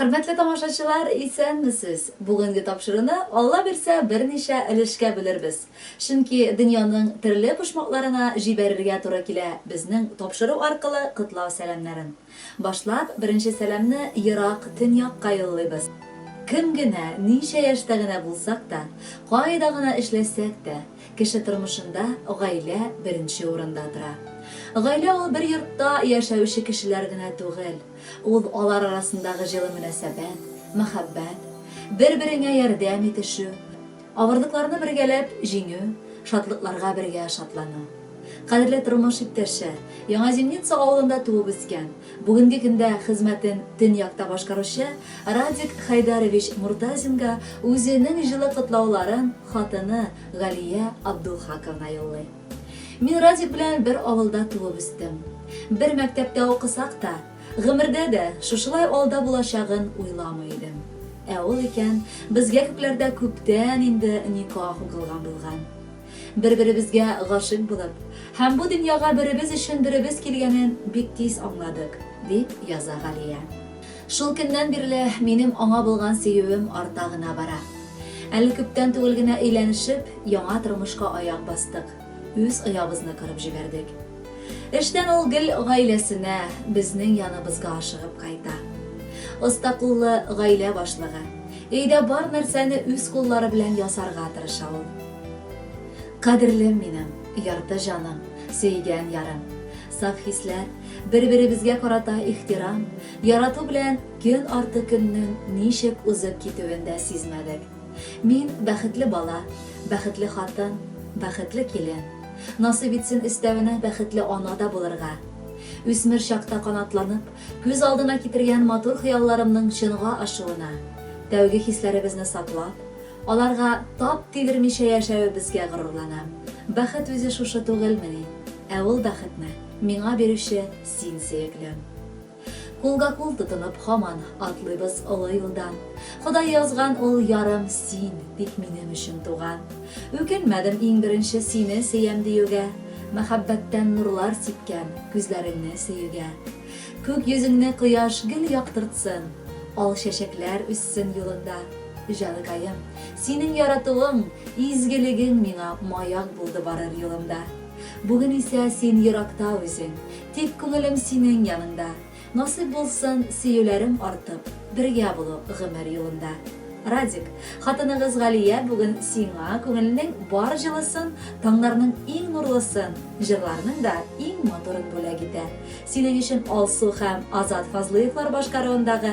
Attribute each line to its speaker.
Speaker 1: Хөрмәтле тамашачылар, исәнмесез! Бүгенге тапшыруны, Алла бирсә, берничә өлешкә бүлербез. Чөнки дөньяның төрле почмакларына җибәрергә туры килә безнең тапшыру аркылы котлау сәламнәрен. Башлап, беренче сәламне ерак Төньякка юллыйбыз. Кем генә, ничә яшьтә генә булсак та, кайда гына эшләсәк тә, кеше тормышында гаилә беренче урында тора. Гаилә ул бер йортта яшәүче кешеләр генә түгел. Ул, алар арасындагы җылы мөнәсәбәт, мәхәббәт, бер-береңә ярдәм итешү, авырлыкларны бергәләп җиңү, шатлыкларга бергә шатлану. Кадерле тормыш иптәше, Яңа Земница авылында туып-үскән, бүгенге көндә хезмәтен Төньякта башкаручы Радик Хәйдәрович Муртазинга үзенең җылы котлауларын хатыны Галия Абдулхаковна юллый. Мин Радик белән бер авылда туып үстем. Бер мәктәптә укысак та, гомердә дә шушылай алда булачагын уйламый идем. Ә ул икән, безгә күкләрдә күптән инде никах укылган булган. Бер-беребезгә гашыйк булып һәм бу дөньяга беребез өчен беребез килгәнен бик тиз аңладык, дип яза Галия. Шул көннән бирле минем аңа булган сөюем арта гына бара. Әле күптән түгел генә өйләнешеп, яңа тормышка аяк бастык, үз оябызны корып җибәрдек. Эштән ул гел гаиләсенә, безнең яныбызга ашыгып кайта. Оста куллы гаилә башлыгы. Өйдә бар нәрсәне үз куллары белән ясарга тырыша ул. Кадерлем минем, ярты җаным, сөйгән ярым. Саф хисләр, бер-беребезгә карата ихтирам, ярату белән көн арты көннең ничек узып китүен дә сизмәдек. Мин, бәхетле бала, бәхетле хатын, бәхетле килен. Насыйп итсен өстәвенә бәхетле ана да булырга. Үсмер чакта канатланып, күз алдына китергән матур хыялларымның чынга ашуына, тәүге хисләребезне саклап, Аларга тап тидермичә яшәвебезгә горурланам. Бәхет үзе шушы түгелмени? Ә ул бәхетне миңа бирүче син, сөеклем. Кулга-кул тотынып һаман атлыйбыз олы юлдан. Ходай язган ул ярым син бит минем өчен туган. Үкенмәдем иң беренче сине сөям диюгә, Мәхәббәттән нурлар сипкән күзләреңне сөюгә. Күк йөзеңне кояш гел яктыртсын, ал чәчәкләр үссен юлыңда. Җаныкаем, синең яратуың, изгелегең миңа маяк булды барыр юлымда. Бүген исә син еракта үзең, тик күңелем синең яныңда. Насыйп булсын, сөюләрем артып, бергә булу гомер юлында. Радик, хатыныгыз Галия бүген сиңа күңелнең бар җылысын, таңнарның иң нурлысын, җырларның да иң матурын бүләк итә. Синең өчен Алсу һәм Азат Фазлыевлар башкаруындагы